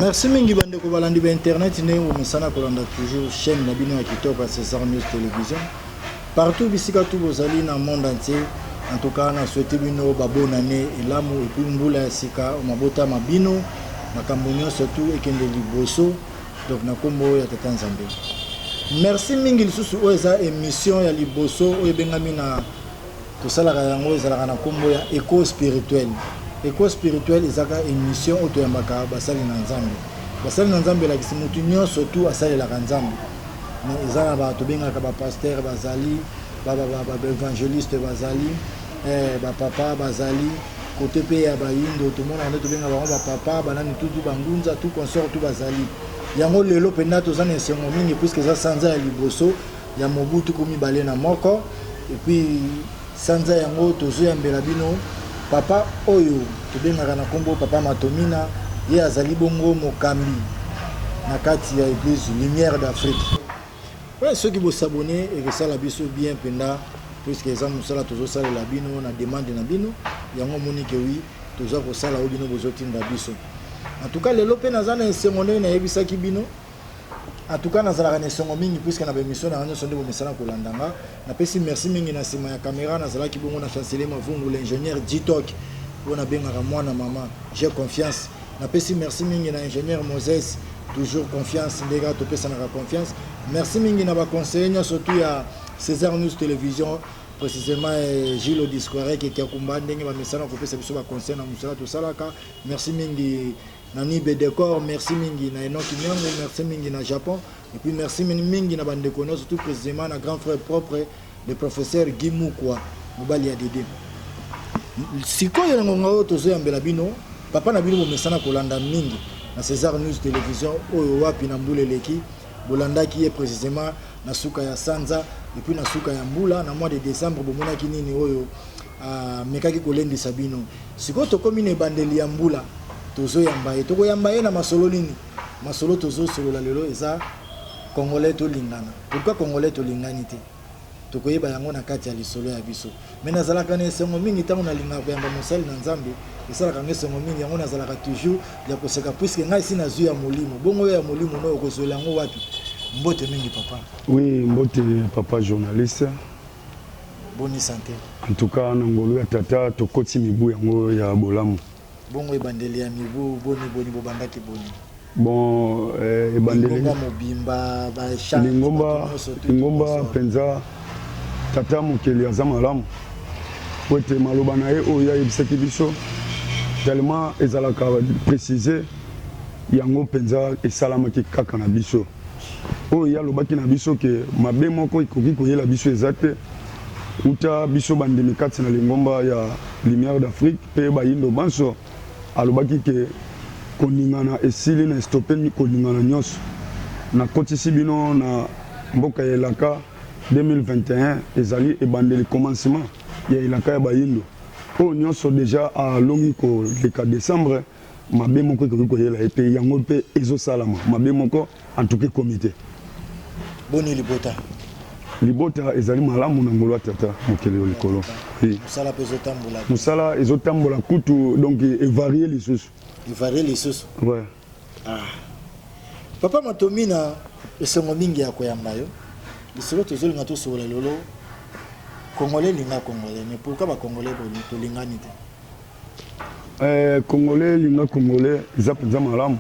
merci mingi bandeko balandi ba internet ndenge bomesana kolanda toujours chaîne na bino ya kitoko ya césar news télévision partout bisika tu bozali na monde entier en tout cas na souhaite bino babona ne elamu epuis mbula ya sika mabota ma bino makambo nyonso tu ekende liboso donc na kombo ya tata nzambe merci mingi lisusu oyo eza émission ya liboso oyo ebengami na tosalaka yango ezalaka na kombo ya eco spirituel eco spirituel ezaka émission oyo toyambaka basali na nzambe basali na nzambe elakisi motu nyonso tu asalelaka nzambe mais eza na bato bengaka bapaster bazali baevangeliste bazali eh, bapapa bazali kote mpe ya bayindo tomonaka nde tobenga bango bapapa banani tutu bangunza tu consort tu bazali yango lelo mpenza toza na esengo mingi puiske eza sanza ya liboso ya mobu tuku mibale na moko epuis sanza yango tozoyambela bino papa oyo tobengaka na nkombo papa matomina ye azali bongo mokambi na kati ya eglise lumière d'afrique Ouais, soki bo s'abonner et que ça la biso bien penda puisque eza musala tozo sala la bino na demande na bino yango moni que oui toza ko sala o bino bozo tinda biso en tout cas lelo pe naza na esengo ndenge na yebisa ki bino en tout cas nazalaka na esengo mingi puisque na ba émission na nyo sonde bo misana ko landanga Napesi merci mingi na sima ya camera nazalaki bongo na Chancelier Mavungu l'ingénieur G-Talk oyo nabengaka mwana mama j'ai confiance napesi merci mingi na ingénieur Moses toujours confiance nde kaka topesanaka confiance merci mingi na baconseiller nyonso tu ya César News Télévision précisément eh, Gilles Odisquarek Kiakumba ndenge bamesana kopesa biso baconseil na mosala tosalaka merci mingi na nibe decor merci mingi na enoki nyango merci mingi na japon et puis merci mingi na bandeko nyonso tout précisément na grand frère propre le professeur guy mukwa mobali ya dede sikoyo na ngonga oyo tozoyambela bino papa na bino bomesana kolanda mingi na césar news télévision oyo wapi na mbula eleki bolandaki ye précisément na suka ya sanza epuis na suka ya mbula na mois de décembre bomonaki nini oyo Amekaki kolendisa bino. Sikoyo tokomi na ebandeli ya mbula. Tozoyamba ye. Tokoyamba ye na masolo nini? Masolo tozosolola lelo eza Congolais tolingana. Pourquoi Congolais tolingani te? Tokoyeba yango na kati ya lisolo ya biso. Mais nazalaka na esengo mingi tango nalingaka koyamba mosali na Nzambe. Esalaka nga esengo mingi. Yango nazalaka toujours ya koseka puisque nga esi nazui ya molimo. Bongo yo ya molimo nayo okozuela yango wapi? Mbote mingi papa. Oui, mbote papa journaliste. Boni sante. En tout cas na ngolu ya tata tokoti mibu yango ya bolamu. Bongo ebandeli ya mibu boni boni bobandaki boni? Bon eh, ebandeli lingomba mobimba ba chant lingomba lingomba penza tata mokeli aza malamu po ete maloba na ye oyo ayebisaki biso tellement ezalaka précise yango penza esalamaki kaka na biso. Oyo ye alobaki na biso ke mabe moko ekoki koyela biso eza te, uta biso bandimi kati na lingomba ya Lumiere d'Afrique mpe bayindo banso, alobaki ke koningana esili na estope koningana nionso, nakotisi bino na mboka ya elaka 2021 ezali ebandeli, commencement, ya elaka ya bayindo, oyo nionso deja alongi koleka decembre. mabe moko ekoki koyela ye te yango mpe ezosalama mabe moko antuka ekomi te boni libota libota ezali malamu na ngolo ya tata mokeli yo likolo mosala ezotambola kutu donc evarie lisusu evarie lisusu ouais. ah. papa matomina esengo mingi ya koyamba yo lisolo tozolinga tosokola lelo congolais elinga congolais mais pourquoi bacongolais boni tolingani te Eh, congolais linga congolais eza penza malamu.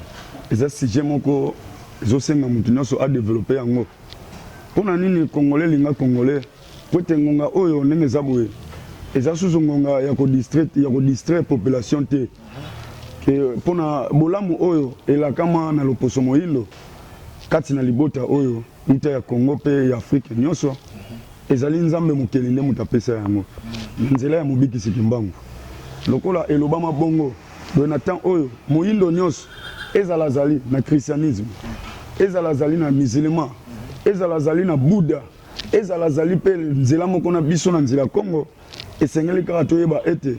Eza sujet moko ezo senga mutu nionso a developper yango. Pona nini congolais linga congolais? Po ete ngonga oyo ndenge eza boye eza susu ngonga ya ko distraire ya ko distraire population te. Ke pona bolamu oyo elakama na loposo moyindo kati na libota oyo. Uta ya Congo mpe ya Afrique nionso, ezali Nzambe Mokeli nde moto apesa yango, na nzela ya Mobikisi Kimbangu. Lokola elobama bongo, boye na temps oyo, moyindo nionso, ezala azali na christianisme, ezala azali na musulman, ezala azali na Bouddha, ezala azali mpe nzela moko na biso na nzela Congo, esengeli kaka toyeba ete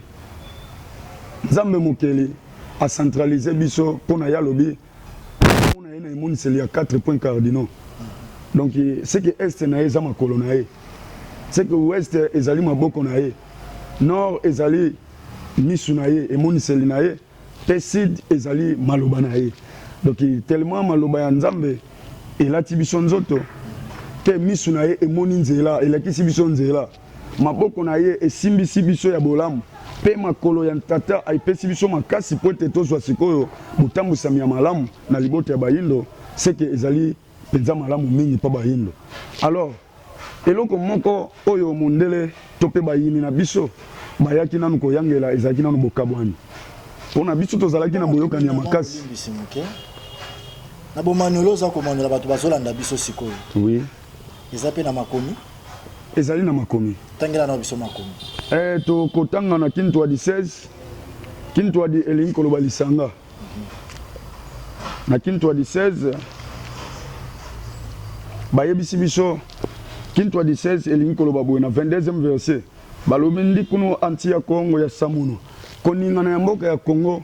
Nzambe Mokeli a centraliser biso mpo na ye alobi, Omona ye na emoniseli ya 4 points cardinaux. Donc ce que est na ye eza makolo na ye. Ce que ouest ezali maboko na ye. Nord ezali misu na ye, emoniseli na ye pe sud ezali maloba na ye. Donc tellement maloba ya Nzambe elati biso nzoto que misu na ye emoni nzela, elakisi biso nzela. Maboko na ye esimbisi biso ya bolamu, mpe makolo ya Tata epesi biso makasi mpo ete tozwa sikoyo botambwisami ya malamu na libota ya Bayindo, ce que ezali penza malamu mingi mpo Bayindo. Alors, eloko moko oyo mondele to mpe bayini na biso bayaki nanu koyangela ezalaki nanu bokabwani. Mpo na biso tozalaki na boyokani ya makasi. Na bomaniola oza komaniola bato bazolanda biso sikoyo. Oui. Eza pe na makomi? Ezali na makomi. Tangela nao biso makomi. Eh, toko tanga na Kintwadi 16. Kintwadi elingi koloba lisanga. Na Kintwadi 16, bayebisi biso Kintwadi 16 elingi koloba boye na 22e verset. Balobi ndikunu anti ya koongo ya samono. Koningana ya mboka ya Congo.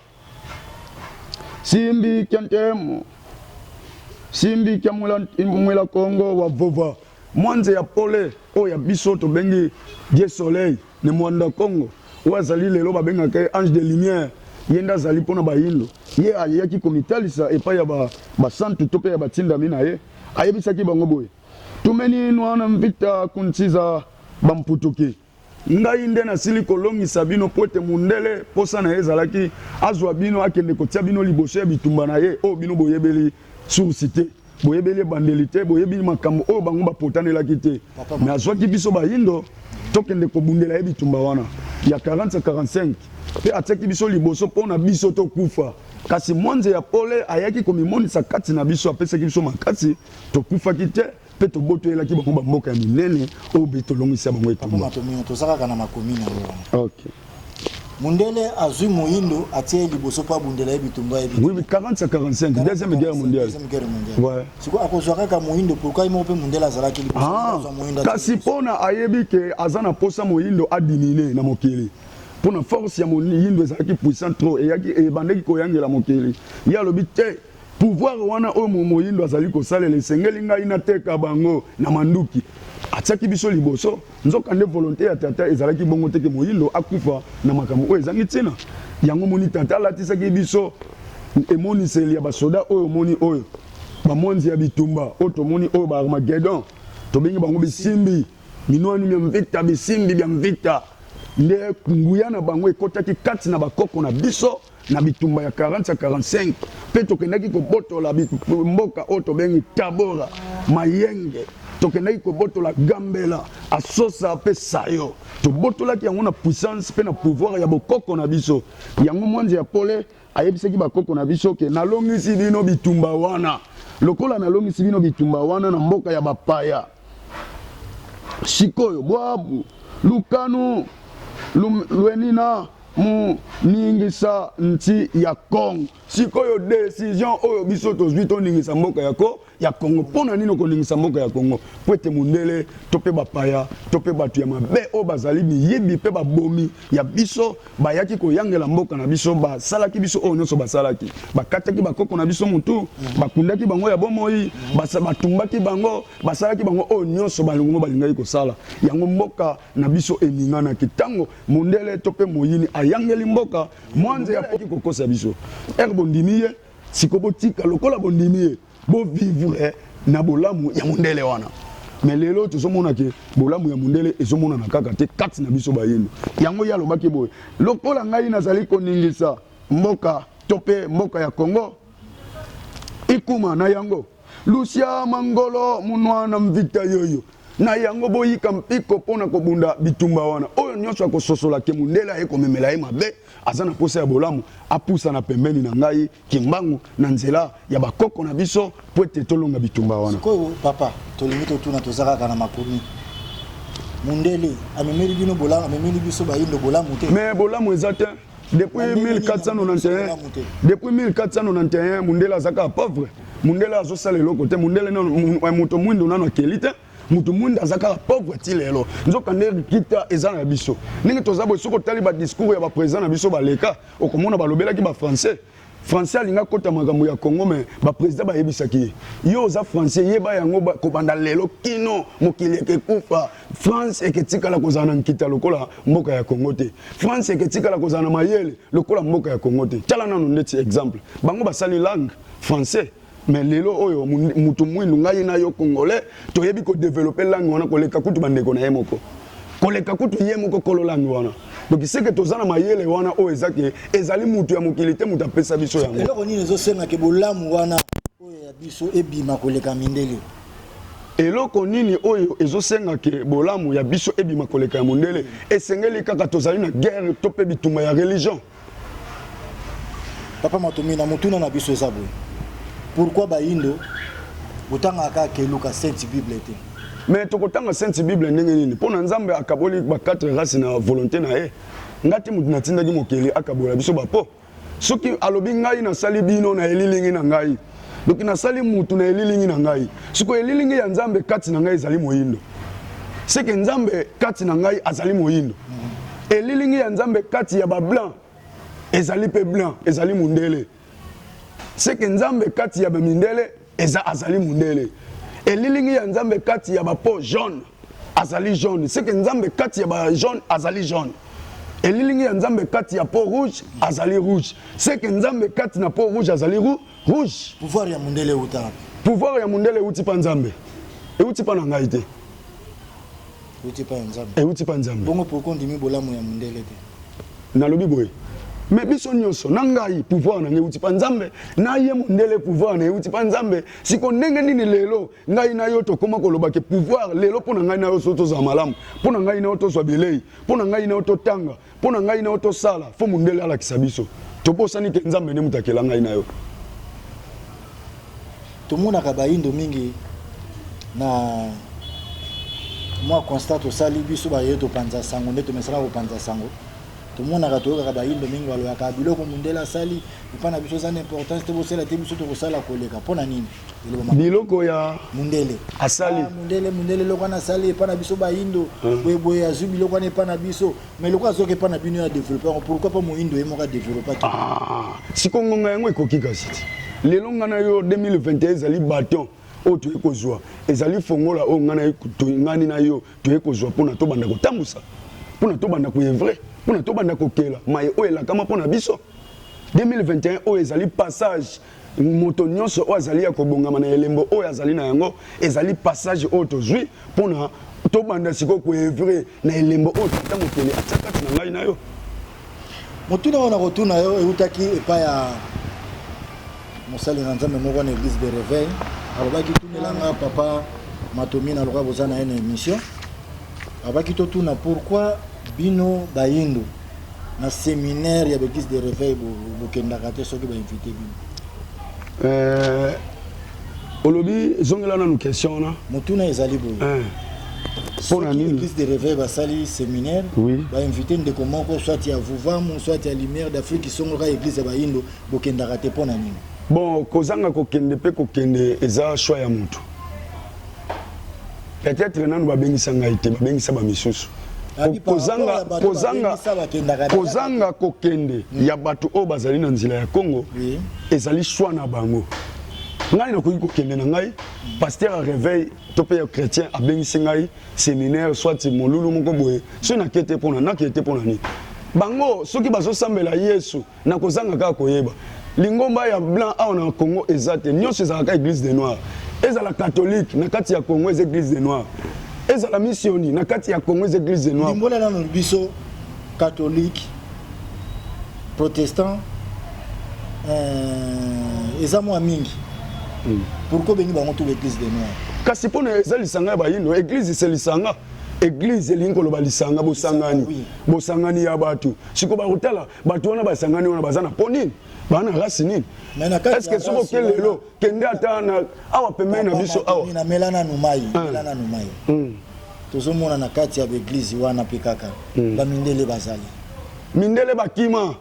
Simbi kya ntemo, simbi kya mwela kongo wa vova, mwanze ya pole oyo ya biso tobengi Dieu soleil ne mwanda kongo, oyo azali lelo babengaka ye ange de lumière, ye nde azali mpo na bayindo, ye ayaki komitalisa epai ya basantu to mpe ya batindami na ye, ayebisaki bango boye, Tumeninwa na mvita kuntsiza bamputuki. Ngai nde nasili kolongisa bino, mpo ete mondele mposa na ye ezalaki azwa bino, akende kotia bino liboso ya bitumba na ye, oyo bino boyebeli source te, boyebeli ebandeli te, boyebi makambo oyo bango bapotanelaki te, mais azwaki biso bayindo tokende kobundela ye bitumba wana ya 40 à 45 mpe atiaki biso liboso mpo na biso tokufa. Kasi mwanze ya pole ayaki komimonisa kati na biso, apesaki biso makasi, tokufaki te. Mpe tobotoyelaki bango bamboka ya minene oyo mpe tolongisa bango etumba. Toza kaka na makomi na yango wana. Okay. Mundele azui moyindo atie ye liboso mpo abundela ye bitumba ye oui, 40 à 45 deuxième guerre mondiale ouais. sikoyo akozwa kaka moyindo pourkua ye moko mpe mundele azalaki liboso ah, kasi mpona ayebi ke aza na mposa moyindo adimine na mokili mpona force ya moyindo ezalaki puissant trop eyaki ebandaki koyangela mokili ye alobi te Pouvoir wana oyo momoyindo azali kosalela esengeli ngai nateka bango na manduki. Atiaki biso liboso, nzoka nde volonte ya Tata ezalaki bongo te ke moyindo akufa na makambo oyo ezangi tina. Yango omoni Tata alatisaki biso emoniseli ya ba soda oyo omoni oyo, ba mwanzi ya bitumba oyo tomoni oyo, ba Armagedon, tobengi bango bisimbi, minwani mya mvita, bisimbi bya mvita. Nde nguya na bango ekotaki kati na ba koko na biso. na bitumba ya 40 ya 45 mpe tokendaki kobotola mboka oyo tobengi Tabora, Mayenge, tokendaki kobotola Gambela, Asosa mpe Sayo. Tobotolaki yango na puissance mpe na pouvoir ya bokoko na biso. Yango Mwanze ya Pole ayebisaki bakoko na biso ke nalongisi bino bitumba wana. Lokola nalongisi bino bitumba wana na mboka ya bapaya, sikoyo Bwabu, Lukanu, Lwenina, moningisa nti ya Congo. Sikoyo decision oyo biso tozwi toningisa mboka ya ko ya Congo. Mpo na nini okoningisa mboka ya Congo? Mpo ete mondele to mpe bapaya to mpe bato ya mabe oyo bazali miyibi mpe babomi ya biso bayaki koyangela mboka na biso, basalaki biso oyo nyonso basalaki, bakataki bakoko na biso motu, bakundaki bango ya bomoi, batumbaki bango, basalaki bango oyo nyonso bango balingaki kosala. Yango mboka na biso eninganaki ntango Mundele to pe moyini ayangeli mboka mwanze ya poki kokosa biso ere bondimi ye siko botika lokola bondimi ye bo vivre na bolamu ya mundele wana me lelo tozomona ke bolamu ya mundele ezomonana kaka te kati na biso bayindo yango ye alobaki boye lokola ngai nazali koningisa mboka to pe mboka ya congo ikuma na yango Lucia Mangolo munua na mvita yoyo na yango boyika mpiko mpo na kobunda bitumba wana. Oyo nyonso akososola ke mundele aye komemela ye mabe, aza na mposa ya bolamu, apusana pembeni na ngai Kimbangu na nzela ya ba koko na biso mpo ete tolonga bitumba wana. Sikoyo papa tolingi totuna toza kaka na makomi mundele amemeli bino bolamu amemeli biso bayindo bolamu te? Mais bolamu eza te. Depuis 1491, depuis 1491, Mundela azaka pauvre. Mundela azosala eloko te. Mundela na eh, moto mwindo nano akeli te. Moto mwindo azaka pauvre ti lelo. Nzoka nde kita eza na biso. Ndenge toza boye soki otali ba discours ya ba président na biso baleka, okomona balobelaki ba français. Français alingi akota makambo ya Congo mais ba president bayebisaki ye yo oza français yeba yango kobanda lelo kino mokili ekekufa France eketikala kozala na nkita lokola mboka ya Congo te France eketikala kozala na mayele lokola mboka ya Congo te tala nano ndeti exemple bango basali langue français mais lelo oyo mutu mwindu ngai na yo congolais toyebi ko developper langue wana koleka kutu bandeko na ye moko koleka kutu ye moko kolo langue wana donc seke toza na mayele wana oyo eza ke ezali mutu ya mokili te mutu apesa biso yango eloko nini ezosenga ke bolamu wana oyo ya biso ebima koleka mindele eloko nini oyo ezosenga ke bolamu ya biso ebima koleka ya mondele esengeli kaka tozali na guerre to mpe bitumba ya religion Papa Matomina, motuna na biso eza boye. Pourquoi bayindo botangaka kaka keluka Sainte Bible te? Mais tokotanga Sainte Bible ndenge nini? Mpo na Nzambe akaboli ba quatre races na volonté na ye. Ngai te moto natindaki mokeli akabola biso ba po. Soki alobi ngai nasali bino na elilingi na ngai. Donc nasali mutu na elilingi na ngai. Siko elilingi ya Nzambe kati na ngai ezali moyindo. Seke Nzambe kati na ngai azali moyindo. Elilingi ya Nzambe kati ya ba blanc ezali pe blanc, ezali mundele. Seke Nzambe kati ya ba mindele eza azali mundele. Elilingi ya Nzambe kati ya ba peau jaune azali jaune. Seke Nzambe kati ya ba jaune azali jaune. Elilingi ya Nzambe kati ya peau rouge azali rouge. C'est que Nzambe kati na peau rouge azali rou, rouge. Pouvoir ya mundele euta wapi? Pouvoir ya mundele euti pa Nzambe. Euti pa na ngai te. Euti pa ya Nzambe. Euti pa Nzambe. Bongo pourquoi ndimi bolamu ya mundele te? Nalobi boye. Mais biso nyonso na ngai pouvoir na ngai euti pa Nzambe, na ye mundele pouvoir na euti pa Nzambe. Siko ndenge nini lelo ngai na yo tokoma koloba ke pouvoir lelo mpo na ngai na yo so tozala malamu, mpo na ngai na yo tozwa bilei, mpo na ngai na yo totanga, mpo na ngai na yo tosala, fo mundele alakisa biso. Tobosani te Nzambe nde moto akela ngai na yo. Tomonaka bayindo mingi na mwa constat tosali biso baye topanza sango nde tomesana kopanza sango tomonaka toyokaka bayindo mingi baloyaka biloko mundele asali epai na biso eza na importance te bosala te biso tokosala koleka mpo na nini biloko ya mundele asali ah, mundele mundele eloko wana asali epai na biso bayindo hmm. boyeboye azwi biloko wana epai na biso mai eloko azwaki epai na bino ya developpe yango pourkui mpo moyindo ye moko adeveloppaki ah, siko ngonga yango ekoki kasi ti lelo ngai na yo 2021 ezali baton oyo toye kozwa ezali fongola oyo ngai ngani na yo toye kozwa mpona tobanda kotambusa mpona tobanda koevre mpona tobanda kokela mai oyo elakama mpo na biso 2021 oyo ezali passage Moto nyonso oyo azali ya kobongama na elembo oyo azali na yango, ezali passage oyo tozwi mpo na tobanda sikoyo ko oeuvrer na elembo oyo Tata Mokeli atya kati na ngai na yo. Motuna oyo nakotuna yo eutaki epai ya mosali na Nzambe moko na Eglise de Reveil, alobaki tunela nga papa Matomi, naloba boza na ye na emission, alobaki totuna pourquoi bino bayindo na seminaire ya b'eglise de reveil bokendaka te soki ba invite bino euh, olobi zongela nanu question wana motuna ezali boye eh. mpo na nini église de reveil basali séminaire oui. bainvite ndeko moko soit ya vuvamu soit ya lumière d'afrique isongolaka église ya bayindo bokendaka te mpo na nini bon kozanga kokende mpe kokende eza choix ya motu peut-être nanu babengisa ngai te babengisa bamisusu kozanga, kozanga, kozanga kokende mm. ya bato oyo bazali na nzela ya congo oui. ezali shwa na bango ngai nakoki kokende na ngai paster ya réveil to mpe ya chrétien abengisi ngai séminaire soit molulu moko boye soki nakete mpona nakete mpona nini bango soki bazosambela yesu Na kozanga kaka koyeba. Lingomba ya blanc awa na Congo eza te. Nionso ezalaka kaka eglise des noirs. Ezala catholique na kati ya Congo eza eglise des noirs. Ezala missioni na kati ya Congo eza eglise des noirs. Limbola nanu biso catholique, protestant euh, eza mwa mingi. Mm. Pourquoi bengi bango tout l'église des noirs? Kasi pona eza lisanga ya bayindo, eglise c'est lisanga. eglise elingi koloba lisanga bosangani bosangani ya bato sikoyo bakotala bato wana basangani wana baza na mpo nini baa na race nini estce soki oke lelo kende ata na awa pembeni na biso awa namela nanu mai ah. mela nanu mai hmm. tozomona na kati ya baeglize wana mpe kaka hmm. bamindele bazali mindele bakima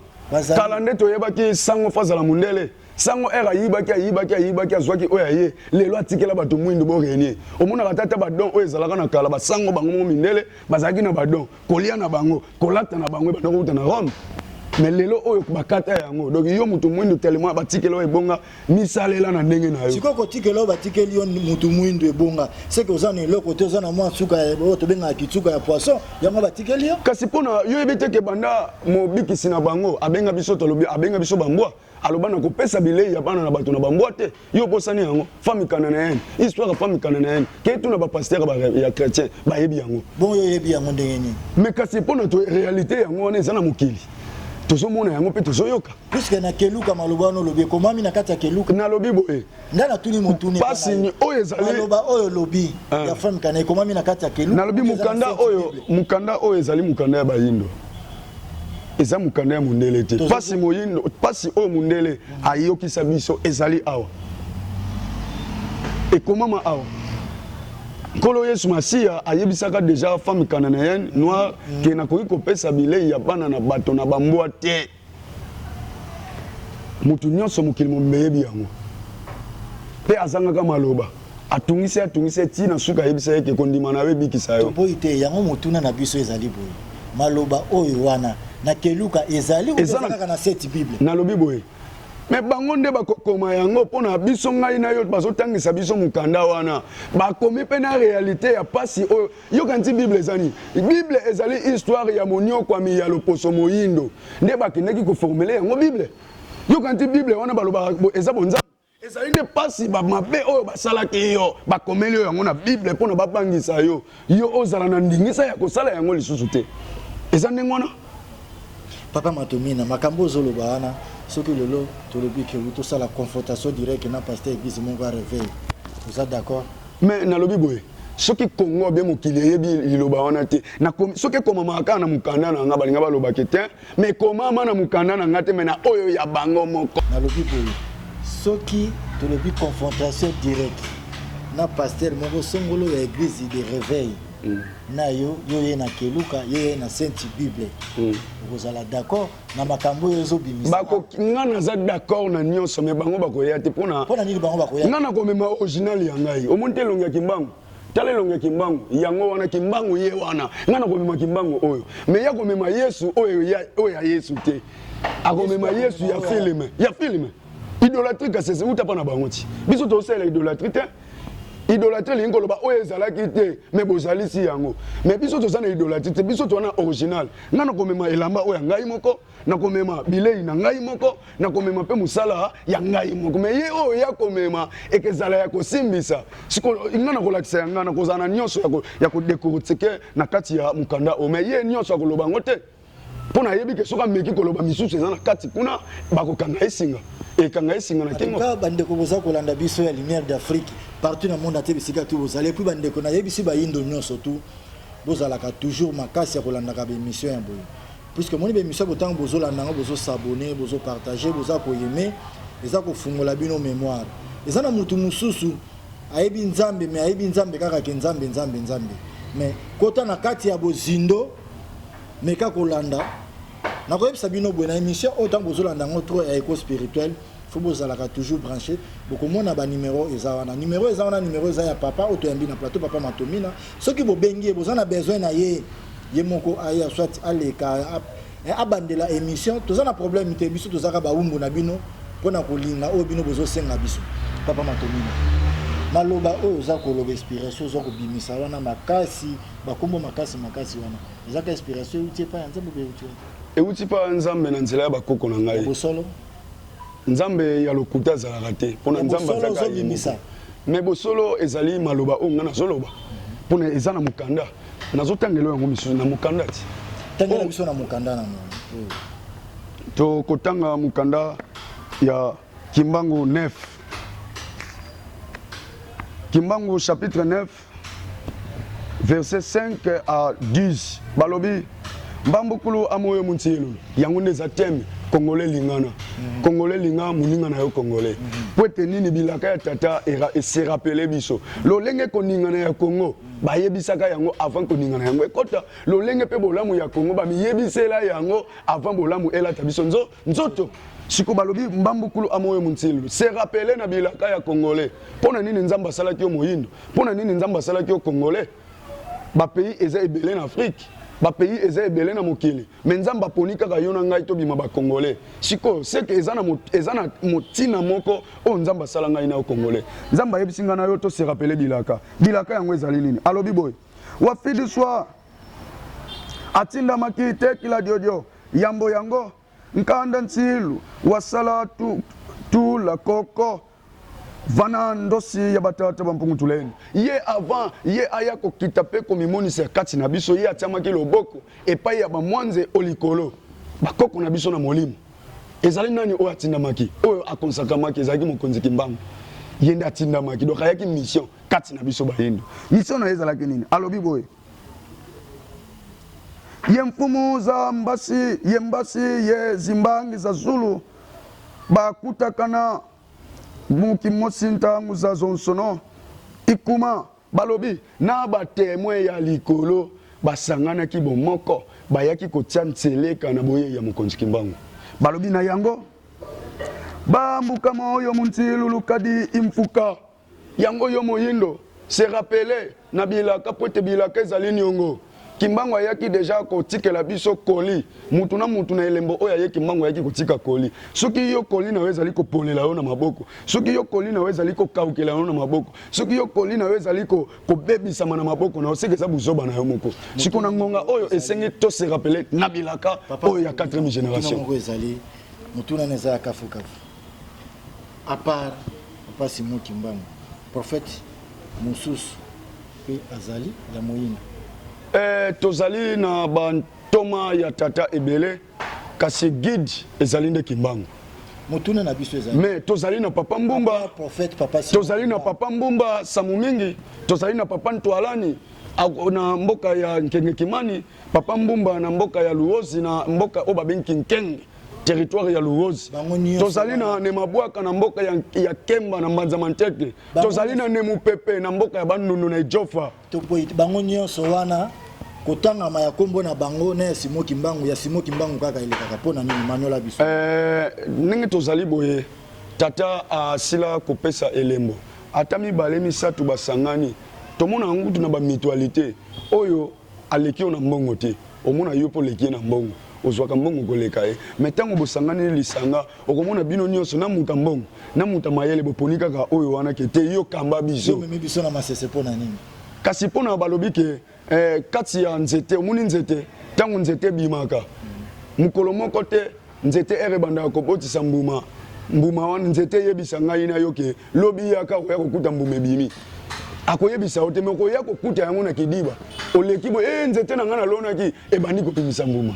kala nde toyebaki sango fo azala mondele sango ere ayibaki ayibaki ayibaki azwaki oyo aye lelo atikela bato mwindu borenie omonaka tata badon oyo ezalaka na kala basango bango moko mindele bazalaki na badon kolia na bango kolata na bango ebanda kouta na rome mais lelo oyo bakata yango donc yo motu mwindu tellement batikela oyo ebonga misalela na ndenge na yo sikoyo kotikela oyo batikeli yo motu mwindu ebonga seke oza na eloko te oza na mwa nsuka oyo tobengaka kitsuka ya poisson yango batikeli yo kasi mpona yo yebi teke banda mobikisi na bango abenga biso tolobi abenga biso bambwa aloba na kopesa bilei ya bana na bato na bambwa te yo obosani yango fami cananéenne histoire ya fami cananéenne kei tuna bapastere ya chrétien bayebi yango bongo oyebi yango ndenge nini me kasi mpo na réalité yango wana eza na mokili tozomona yango mpe tozoyoka puiske na keluka maloba wana olobi ekomami na kati ya keluka nalobi boye ngai natuni motuni pasi ni oyo ezali maloba oyo lobi eh. ya femme kana ekomami na kati ya kelu nalobi mukanda oyo mukanda oyo ezali mukanda ya bayindo eza mukanda ya mundele te pasi moyindo pasi oyo mundele ayokisa biso ezali awa ekomama awa nkolo yesu masiya ayebisaka deja femme kananayen noir mm. ke nakoki kopesa bilei ya bana na bato na bambwa te Moto nyonso mokili mobimba eyebi yango. Mpe azangaka maloba. Atungisi ye, atungisi ye, tii na suka ayebisa ye ke kondima na yo ebikisa yo. Toboyi te, yango motuna na biso ezali boye, maloba oyo wana na keluka ezali ou eza kaka na cette bible? Nalobi boye, mais bango nde bakokoma yango mpo na biso. Ngai na yo bazotangisa biso mokanda wana, bakomi mpe na realite ya mpasi oyo yoka nti bible eza nini bible ezali histoire ya moniokwami ya loposo moyindo nde bakendaki koformele yango bible yoka nti bible wana balobaka eza bonzambe ezali nde mpasi bamabe oyo basalaki yo bakomeli yo yango na bible mpo na babangisa yo yo ozala na ndingisa ya kosala yango lisusu te eza ndenge wana papa matomina makambo ozoloba wana soki lelo tolobi ke tosala confrontation directe na pasteur eglise moko ya reveil oza d'accord Mais nalobi boye soki congo bien mokili eyebi liloba wana te soki ekomamaka kaka na mokanda na nga balinga balobaki te ma ekomama na mokanda na nga te ma na oyo ya bango moko nalobi boye soki tolobi confrontation directe na paster moko songolo ya eglise de réveil mm. na yo yo ye na keluka yo ye na sainte bible mm. okozala d'accord na makambo oyo ezobimisa bako nga naza d'accord na nyonso mais bango bakoya te pona pona nini bango bakoya nga nakomema original ya ngai omoni te elongi ya kimbangu tala elongi ya kimbangu yango wana kimbangu ye wana nga nakomema kimbangu oyo mais ya komema yesu oyo ya, oyo ya yesu te akomema yesu ya filme ya filme idolatrie kasese uta pa na bango ti biso tozosalela idolatrie te idolatrie elingi koloba oyo ezalaki te me bozalisi yango me biso toza na idolatrie te biso toza na original Ngai nakomema elamba oyo ya ngai moko, nakomema bilei na ngai moko, nakomema mpe mosala ya ngai moko. Me ye oyo ya komema ekezala ya kosimbisa. Siko ngai nakolakisa ya ngai, nakozala na nyonso ya kodekortike na kati ya mokanda oyo. Me ye nyonso akoloba yango te, mpo nayebi ke soki ameki koloba misusu eza na kati kuna, bakokanga ye singa ekanga esinga na kingo ba ndeko boza kolanda biso ya lumière d'Afrique partout na monde ate bisika tu bozali puis ba ndeko na yebisi ba indo nyonso tout bozalaka toujours makasi ya kolandaka ba emission ya boye puisque moni ba emission bo tango bozolanda yango bozo s'abonner bozo partager boza koyeme eza kofungola bino mémoire eza na mutu mosusu ayebi nzambe me ayebi nzambe kaka ke nzambe nzambe nzambe me kota na kati ya bozindo meka kolanda nakoyebisa bino boye na émission oyo ntango bozolanda yango trop ya eco spirituel fo bozalaka toujours branché bokomona banimero eza wana nimero eza wana nimero eza ya papa oyo toyambi na plateau papa matomina soki bobengi ye boza na besoin na ye ye moko aya soit aleka eh, abandela émission toza na problème te biso tozaka bawumbu na bino mpo na kolinga oyo bino bozosenga biso papa matomina maloba oyo oza koloba inspiration oza kobimisa wana makasi bakombo makasi makasi wana ezaka inspiration euti epai ya nzambe euti euti epai ya nzambe na nzela ya bakoko na ngai bosolo nzambe ya lokuta azalaka te mpo na nzambe azalaka ye moko me bosolo ezali maloba oyo ngai nazoloba mpo na eza na mokanda nazotangela yango misusu na mokanda ti tangela biso na mokanda na tokotanga mokanda ya kimbangu 9 kimbangu chapitre 9 Verset 5 à 10 balobi mbambukulu amoyo muntielu yango nde eza thème congolais lingana mhm. congolais linga moninga na yo congolais mhm. mpo ete nini bilaka ya tata se rappele biso lolenge koningana ya congo bayebisaka yango avant koningana yango ekota lolenge mpe bolamu ya congo bamiyebisela yango avant bolamu elata biso nzo Nzoto siko balobi mbambukulu amoyo muntilu se rapele na bilaka ya congolais mpo na nini nzambe asalaki yo moyindo mpo na nini nzambe asalaki yo congolais bapays eza ebele na afrike bapays eza ebele na mokili me nzambe aponi kaka yo na ngai tobima bacongolais sikoyo seke eza na motina moko oyo nzambe asala ngai na yo congolais nzambe ayebisi ngai na yo to se rapele bilaka bilaka yango ezali nini alobi boye wafidi swa Atindamaki te kila diodio, yambo yango nkanda ntsilu wasala tu tula koko vana ndosi ya batata ba mpungu tulendo. Ye avant ye aya kokita mpe komimonisa kati na biso, ye atiamaki loboko epayi ya ba mwanze o likolo, bakoko na biso na molimo. Ezali nani oyo atindamaki? Oyo akonsakamaki ezalaki mokonzi kimbangu. Ye nde atindamaki, donc ayaki mission kati na biso bayindo. Mission na ye ezalaki nini? Alobi boye ye mfumu za mbasi ye mbasi ye zimbangi za zulu bakutakana muki mosi ntangu za zonsono ikuma Balobi na ba Temoins ya likolo basanganaki bomoko, bayaki kotia nseleka na boyei ya Mokonzi Kimbangu. Balobi na yango ba mbuka moyo muntilu lukadi imfuka yango yo moyindo se rappeler na bilaka pwete bilaka ezali niongo. Kimbangu ayaki deja kotikela biso colis. Mutu na mutu na elembo oyo aye Kimbangu ayaki kotika colis. Soki yo colis na yo ezali kopolela yo na maboko, soki yo colis na yo ezali kokaukela yo na maboko, soki yo colis na yo ezali ko, kobebisama na maboko na yo, seke eza buzoba na yo moko. Siko na ngonga oyo esengi to se rappeler na bilaka oyo ya 4e generation. Moko ezali mutuna na ezala kafu kafu. A part Papa Simon Kimbangu, prophète mususu Mpe azali ya moyina. Ee, tozali na bantoma ya Tata ebele, kasi guide ezali nde Kimbangu. Motuna na biso ezali. Mais tozali na Papa Mbumba, prophète Papa Simon. Tozali na Papa Mbumba Samu Mingi, tozali na Papa Ntwalani na mboka ya Nkenge Kimani, Papa Mbumba na mboka ya Luozi na mboka oyo babengi Kinkenge territoire ya Luozi. Tozali na Nemabwaka na mboka ya, ya Kemba na Mbanza Manteke. tozali na nemupepe na mboka ya bandundu na ejofa tokwei bango nyonso wana kotangama ya kombo na bango na ya simo kimbangu ya simo kimbangu kaka elekaka mpo na nini manola biso eh, ndenge tozali boye tata asila kopesa elembo ata mibale misato basangani tomona yango kutu na bamitualité oyo Aleki yo na mbongo te omona yo pe oleki ye na mbongo ozwaka mbongo koleka ye mais tango bosanganeli lisanga okomona bino nionso na mutu ya mbongo na mutu ya mayele boponi kaka oyo wana ke te yo kamba biso Yo omemi biso na masese pona nini? Kasi pona balobi ke eh, kati ya nzete omoni nzete tango nzete ebimaka mukolo moko te Nzete ere ebandaka kobotisa mbuma, mbuma wana nzete eyebisa ngai na yo ke lobi yaka okoya kokuta mbuma ebimi. Akoyebisa yo te me okoya kokuta yango na kidiba. Oleki boye, ee nzete na ngai nalonaki ebandi kobimisa mbuma.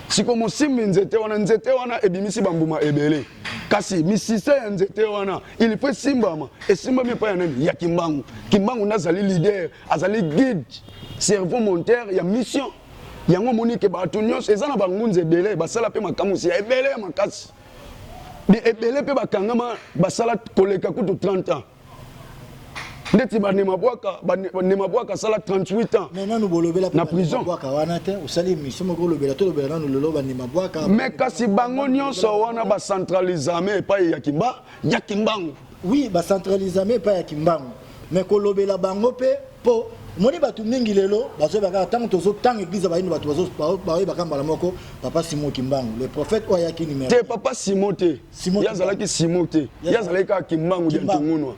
Siko mosimbi nzete wana, nzete wana ebimisi bambuma ebele. Kasi misisa ya nzete wana il faut esimbama, esimbami epai ya nani? Ya kimbangu. Kimbangu nde azali leader, azali guide, cerveau monteur ya mission. yango omoni ke bato nyonso eza na bangunza ebele basala mpe makamwisi ya ebele ya makasi ebele mpe bakangama basala koleka kutu 30 ans ndeti banema bwaka banema bwaka asala 38 ans mais nanu bolobela na prison bwaka wana te osali émission moko olobela to lobela nanu lelo banema bwaka mais kasi bango nyonso wana ba centralisame epai ya kimba ya kimbangu oui ba centralisame epai ya kimbangu mais kolobela bango mpe Po omoni bato mingi lelo bazoyeba kaka ntango tozotanga eglize ya bayindo bato baoyebaka mbala moko papa simon kimbangu le prophète oyo ayaki numero te papa simon te ye azalaki simon te ye azalaki kaka kimbangu ya ntongunwa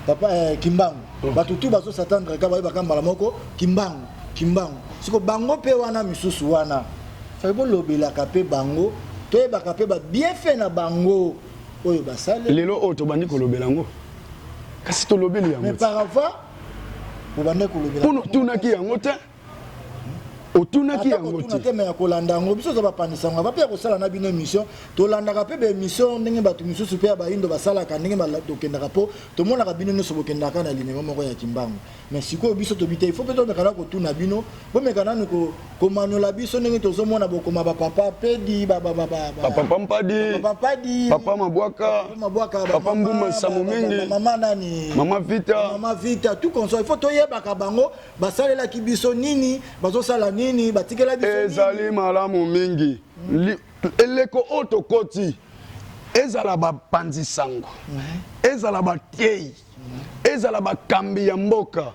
papa eh, kimbangu oh. bato tu bazosatandre ka bayebaka mbala moko kimbangu kimbangu siko bango mpe wana misusu wana fai bolobelaka mpe bango toyebaka mpe babienfait na bango oyo basale lelo oyo tobandi kolobela yango kasi tolobeli yango parava obanda kolobela mpo notunaki yango te otunaki yango te te me ya kolanda yango biso oza bapandisa yango ava mpe ya kosala na bino émission tolandaka mpe baémission ndenge bato mosusu mpe ya baindo basalaka ndenge tokendaka mpo tomonaka bino nyonso bokendaka na limemo moko ya kimbangu mais sikoyo biso tobi te ifo mpe tomeka na kotuna bino bomeka nanu komanola biso ndenge tozomona bokoma bapapa pedi papa mpadi papa mabwaka papa mbuma nsamu mingi mama nani mama vita mama vita tout consoi ifo toyebaka bango basalelaki biso nini bazosala nini batikela biso ezali malamu mingi eleko oyo tokoti ezala bapanzi sango ezala bateyi ezala bakambi ya mboka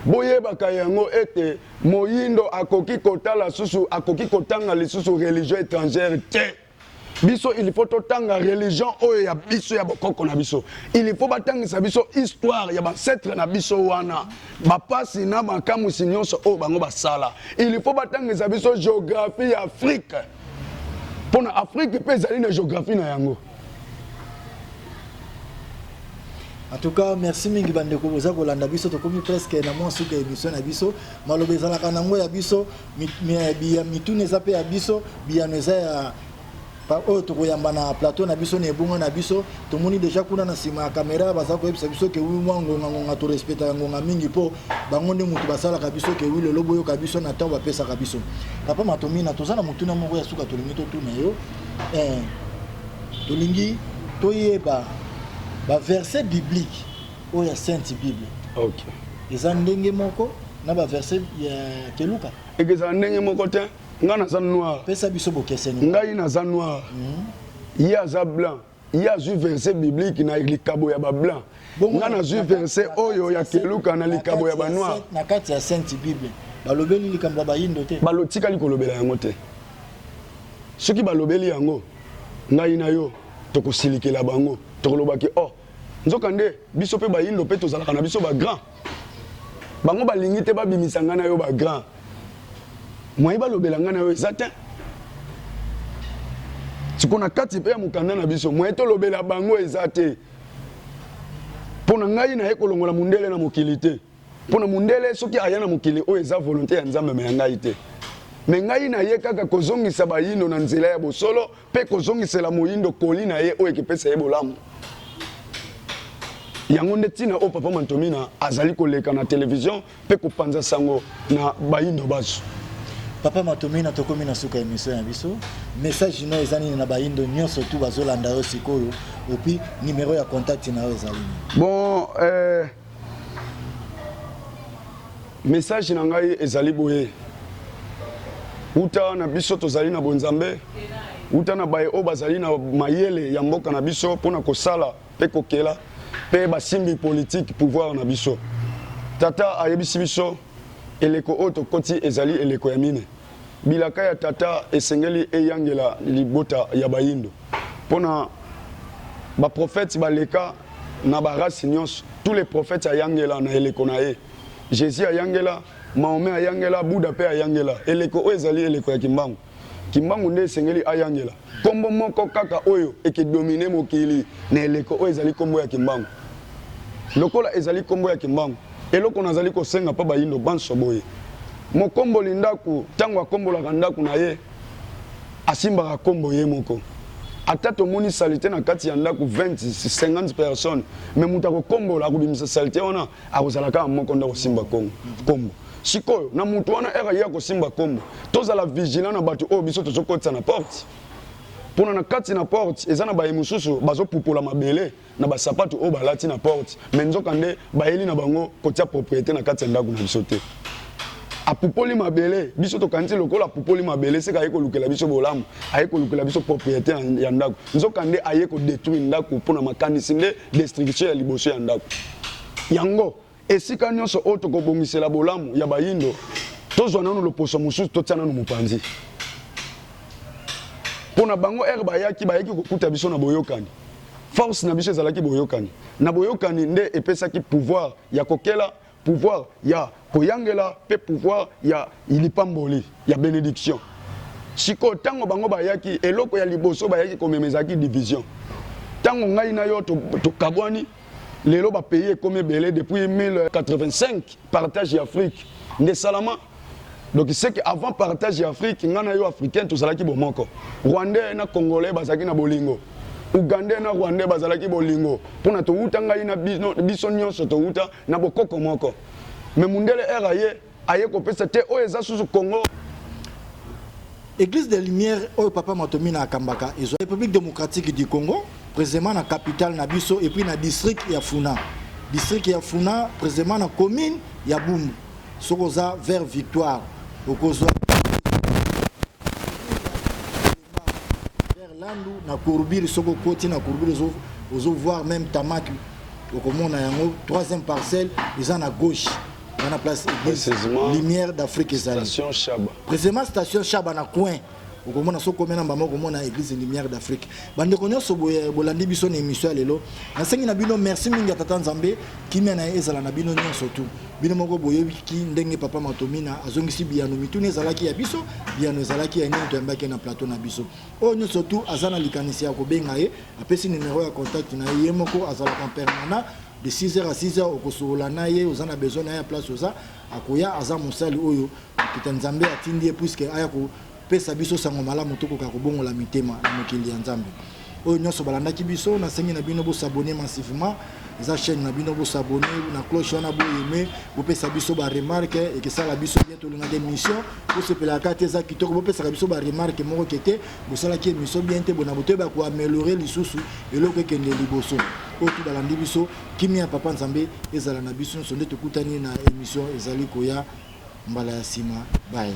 boyebaka yango ete moyindo akoki kotala susu akoki kotanga lisusu religion étrangère te biso il faut totanga religion oyo ya biso ya bokoko na biso il faut batangisa biso histoire ya bancetre na biso wana bapasi na makamwisi nyonso oyo bango basala il faut batangisa biso géographie ya afrique mpo na afrique mpe ezali na géographie na yango En tout cas, merci mingi bandeko boza kolanda biso tokomi presque na mwa suka ya émission na biso. Maloba ezalaka nango ya biso, biya mituna eza pe ya biso, biyano eza ya oyo tokoyamba na plateau na biso na ebonga na biso tomoni deja kuna na nsima ya kamera baza koyebisa biso ke wi mwa ngongangonga torespectaka ngonga mingi mpo bango nde motu basalaka biso ke wi lelo boyoka biso na ntango bapesaka biso papa matomina toza na motuna moko ya suka tolingi totuna yo Ee, tolingi toyeba baverse biblike oyo ya Sainte Bible. Okay. Eza ndenge moko na baverse ya Keluka? Ekezala ndenge moko te. Ngai naza noir. Pesa biso bokeseni. Ngai naza noir. Mm -hmm. Ye aza blanc. ye azwi verset biblique na likabo ya bablanc nga nazwi verset oyo ya keluka na likabo ya banoir na kati ya sainte bible balobeli likambo ya bayindo te balotikali kolobela yango te soki balobeli yango ngai na yo tokosilikela bango tokoloba ke oh nzoka nde biso mpe bayindo mpe tozalaka na biso bagrand bango balingi te babimisa ngai na yo ba grand moyen balobela ngai na yo eza te siko na kati mpe ya mokanda na biso moyen tolobela bango eza te mpo na ngai naye kolongola mondele na mokili te mpo na mondele soki aya na mokili oyo eza volonte ya nzambe me ya ngai te me ngai naye kaka kozongisa bayino na nzela ya bosolo mpe kozongisela moindo koli na ye oyo ekipesa ye bolamu. Yango nde ntina oyo Papa Mantomina azali koleka na televizio mpe kopanza sango na baindo bazo. Papa Matomina tokomi na suka emission ya biso message no eza nini na baindo nyonso tu bazolanda yo sikoyo opi numero ya contact na yo ezali nini? Bon eh... Message na ngai ezali boye uta na biso tozali na bonzambe uta na baye oyo bazali na mayele ya mboka na biso mpo na kosala mpe kokela mpe basimbi politike pouvoir na biso tata ayebisi biso eleko oyo tokoti ezali eleko ya mine Bilaka ya tata esengeli eyangela libota ya bayindo pona ba prophètes baleka na ba races nionso tous les prophètes ayangela na eleko na ye Jesus ayangela Mahomet ayangela Buddha pe ayangela eleko oyo ezali eleko ya kimbangu kimbangu nde esengeli ayangela Nkombo moko kaka oyo ekidomine mokili na eleko oyo ezali nkombo ya kimbangu. Lokola ezali nkombo ya kimbangu, eloko nazali kosenga mpo bayindo banso boye, mokomboli ndako ntango akombolaka ndako na ye, asimbaka nkombo ye moko. Ata tomoni salite na kati ya ndako 20, 50 personnes, mais moto akokombola, akobimisa salite wana, akozala kaka moko nde akosimba kongo kombo sikoyo na moto wana ere ye akosimba kombo tozala vigilant na bato oyo biso tozokotisa na porte mpona na kati na porte eza na baye mosusu bazopupola mabele na basapatu oyo balati na porte me nzoka nde bayeli na bango kotia propriete na kati ya ndako na biso te apupoli mabele biso tokanisi lokola apupoli mabele seka aye kolukela biso bolamu aye kolukela biso propriete ya ndako Nzoka nde aye ko detruire ndaku pona makanisi nde destruction ya liboso ya ndaku yango esika nionso oyo toko bongisela bolamu ya bayindo tozwa nanu loposo mosusu totia nanu mopanzi pona bango ere bayaki bayaki kokuta biso na boyokani force na biso ezalaki boyokani na boyokani nde epesaki pouvoir ya kokela Pouvoir ya koyangela pe pouvoir ya lipamboli, ya benediction. Sikoyo tango bango bayaki, eloko ya liboso bayaki komema ezalaki division. Tango ngai na yo tokabwani, lelo ba pays ekomi ebele depuis 1085 partage ya Afrique nde esalama. Donc c'est que avant partage ya Afrique, nga na yo africain tozalaki bomoko. Rwandais na congolais bazalaki na bolingo. Ougandais na rwandais bazalaki bolingo. Pona towuta ngai na bino biso nyonso towuta na bokoko moko. Mais mundele era aye aye kopesa te oyo eza susu Congo. Eglise de lumière oyo papa Matomina akambaka ezwa République démocratique du Congo, précisément na capitale na biso et puis na district ya Funa. District ya Funa précisément na commune ya Bumbu. Soki oza vers victoire okozwa vers landu na courbure soki okoti na courbure ozo ozo voir même tamaki okomona yango troisième parcelle eza na gauche wana place église Précisément, lumière d'afrique ezali Station Shaba. précisément station shaba na coin okomona so komena mbama okomona église lumière d'afrique bandeko nyonso bolandi biso na émission ya lelo nasengi na bino merci mingi ya tata nzambe kimia na ye ezala na bino nyonso tu bino moko boyebiki ndenge papa matomina azongisi biyano mituni ezalaki ya biso biyano ezalaki ya nini toyambaki na plateau na biso oyo nyonso tu aza na likanisi ya kobenga ye apesi numero ya contact na ye ye moko azalaka permanent de 6h à 6h okosolola na ye oza na besoin na ye ya place oza Akoya aza mosali oyo mpita Nzambe atindi ye puiske aya kopesa biso sango malamu tokoka kobongola mitema na mokili ya Nzambe. Oyo nyonso balandaki biso, nasengi na bino bosabone massivement eza chaîne na bino bosabone na cloche wana boyeme bopesa biso baremarke ekesala biso bien tolingaka émission bosepelaka te eza kitoko bopesaka biso baremarke moko ke te bosalaki émission bien te bona botoyeba koameliore lisusu eloko ekende liboso oyo tu balandi biso Kimia papa nzambe ezala na biso nionso nde tokutani na emission ezali koya mbala ya sima bye.